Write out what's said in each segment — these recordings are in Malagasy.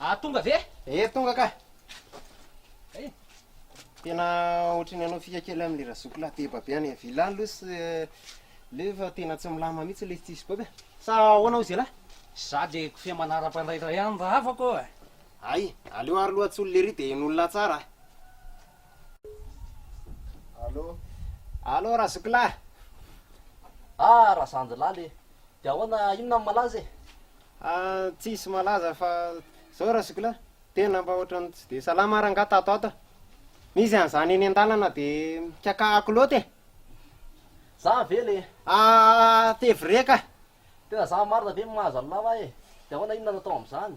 Aah tonga ve? Ee tonga ka! Hay! Tena ohatry ny hanao fika kely amin'i le razoko lahy be babe any villa any loha sy le fa tena tsy milamina mihitsy le tsisy babe sa ahoana hoy zelahy? Za de kofehy manara-pandraitra ihany raha afaka ô e! Ay, aleo ary loha Tsolly ery dia hen'olona tsara a! Allo! Allo ra Zokilahy! Ah ra Zandry laly e! Dia ahoana, inona no malaza e? Ah, tsisy malaza fa zao ra Zokilahy, tena mba ohatran'ny tsy dia salama ary angaha tato ato a! Misy an'izany eny an-dalana dia mikakahako loatra e! Za ve le? Ah, Fevreka! Tena za marina ve mahazo an'i lava e? De ahoana inona no atao amzany?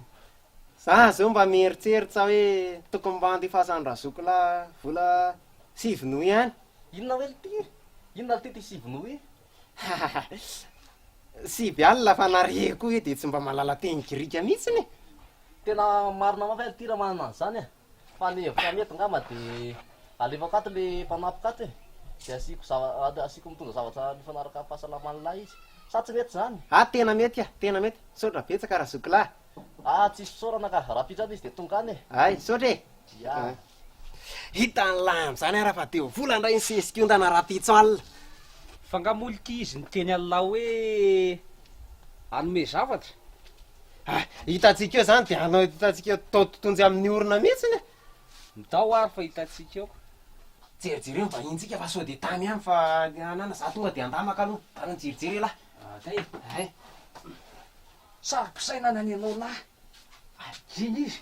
Za zao mba mieritsertsa hoe tokony mba andefasan'i Razoukla vola sivy nouis any. Inona hoe lty? Inona lty ty sivy nouis? Hahahha. Sivy alina fa na re koa hoe dia tsy mba malala teny grika mihitsiny e! Tena marina mafy aho lty raha manana an'izany e! Fa ny hevitra mety ngamba de alefako ato le mpanampiko ato e, de asiako zava, asiako mitondra zavatra mifanaraka amin'ny fahasalaman'ny lahy izy. Sa tsy mety zany? Ah tena mety ah, tena mety. Misaotra betsaka ra zokilahy. Ah tsisy fisaorana ka, rapitra any izy de tonga any e. Hay, misaotra e. Yeah. Hita any lany zany ara fa teo vola ndray ny sesiko ondana rapitso all. Fa nga moa lky izy niteny an'lah hoe hanome zavatra? Hay, hitantsika eo zany de anao hitantsika eo tao totonjy amin'ny orona mihitsiny e. Ndao ary fa hitantsika eo. Jerijereo ny vahinintsika fa sao de tany ihany fa anana, za tonga de andamaka aloha, tany an-jerijery elah. Hay, hay. Saro-pisainana ny anao lahy. Ary iny izy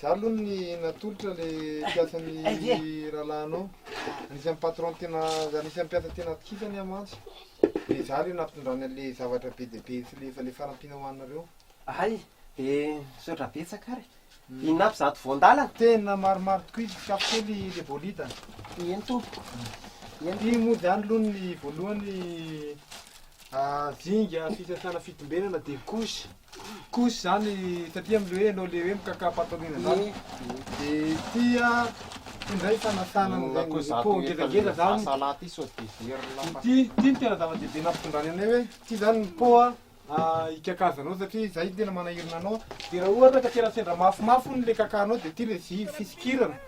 Za aloha ny natolotra le mpiasan'ny rahalahinao, anisan'ny patron tena, anisan'ny mpiasa tena atokisany aho mantsy, de za le nampitondrany an'le zavatra be dia be sy le efa le fanampiana ho anareo. Hay, de misaotra betsaka ary. Inona avy izato voan-dalana? Tena maromaro tokoa izy, tsapy kely le bolida. Eny tompoko, eny tompoko. Ty moa zany aloha ny voalohany, zinga fisasana fitombenana de couche. Kosa zany taty amle hoe enao le hoe mikaka patalouna zany de ty a ty ndray fanasana zany ko za ko ngedangeda zany sa la ty sao de very la ty ty no tena zava dehibe nampitondrany anay hoe ty zany ny po a hikakaza anao satria zay no tena manahirana anao de raha ohatra ka tena sendra mafimafy hono le kakanao de ty le fisikirana